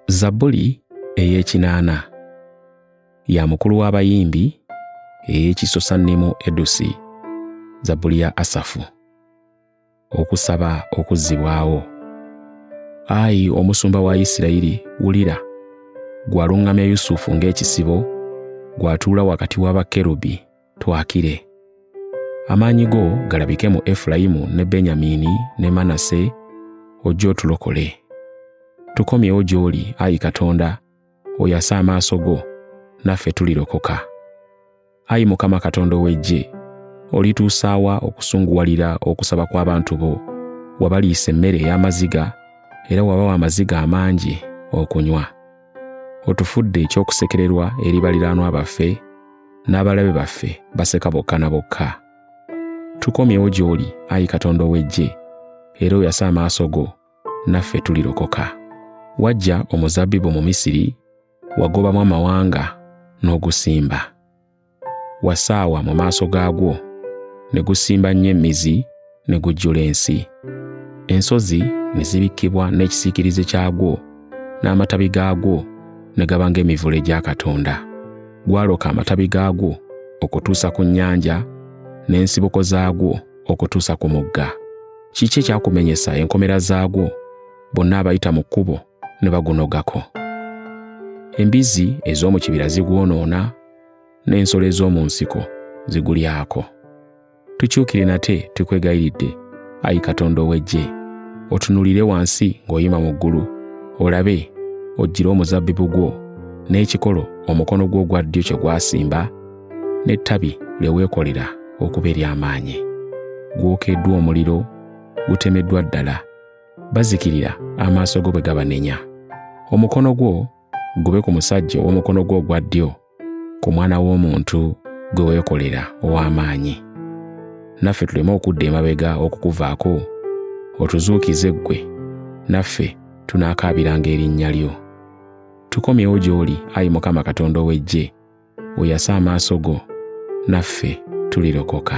zabbuli ey'ekinaana ya mukulu w'abayimbi ey'ekisosannimu edusi zabbuli ya asafu okusaba okuzzibwawo ayi omusumba wa isirayiri wulira gwaluŋŋamya yusufu ng'ekisibo gwatuula wakati wa bakerubi twakire. Amaanyi go galabike mu Efulayimu ne Benyamiini ne Manase, ojje otulokole. Tukomyewo gy'oli, ayi Katonda, oyase amaaso go, naffe tulirokoka. Ayi Mukama Katonda ow'eggye, olituusaawa okusunguwalira okusaba kw'abantu bo, wabaliisa emmere ey'amaziga, era wabawa amaziga amangi okunywa. otufudde eky'okusekererwa eri baliraanwa baffe n'abalabe baffe baseka bokka na bokka tukomyewo gy'oli ayi katonda ow'eggye era oyase amaaso go naffe tulirokoka wajja omuzabbibu mu misiri wagobamu amawanga n'ogusimba wasaawa mu maaso gaagwo ne gusimba nnyo emmizi ne gujjula ensi ensozi ne zibikkibwa n'ekisiikirize kyagwo n'amatabi gaagwo ne gaba ng'emivule gya katonda gwaloka amatabi gaagwo okutuusa ku nnyanja n'ensibuko zaagwo okutuusa ku mugga kiki ekyakumenyesa enkomera zaagwo bonna abayita mu kkubo ne bagunogako embizzi ez'omu kibira zigwonoona n'ensolo ez'omu nsiko zigulyako. Tukyukire nate tukwegayiridde, ayi Katonda ow'eggye, otunulire wansi ng'oyima mu ggulu, olabe oggyire omuzabbibu gwo n'ekikolo omukono gwo ogwa ddyo kye gwasimba, n'ettabi lye weekolera okuba ery'amaanyi. Gwokeddwa omuliro, gutemeddwa ddala, bazikirira amaaso go bwe gabanenya. Omukono gwo gube ku musajja ow'omukono gwo ogwa ddyo ku mwana w'omuntu gwe weekolera ow'amaanyi naffe tuleme okudda emabega okukuvaako otuzuukize ggwe naffe tunaakaabiranga erinnya lyo tukomyewo gy'oli ayi mukama katonda ow'eggye oyase amaaso go naffe tulirokoka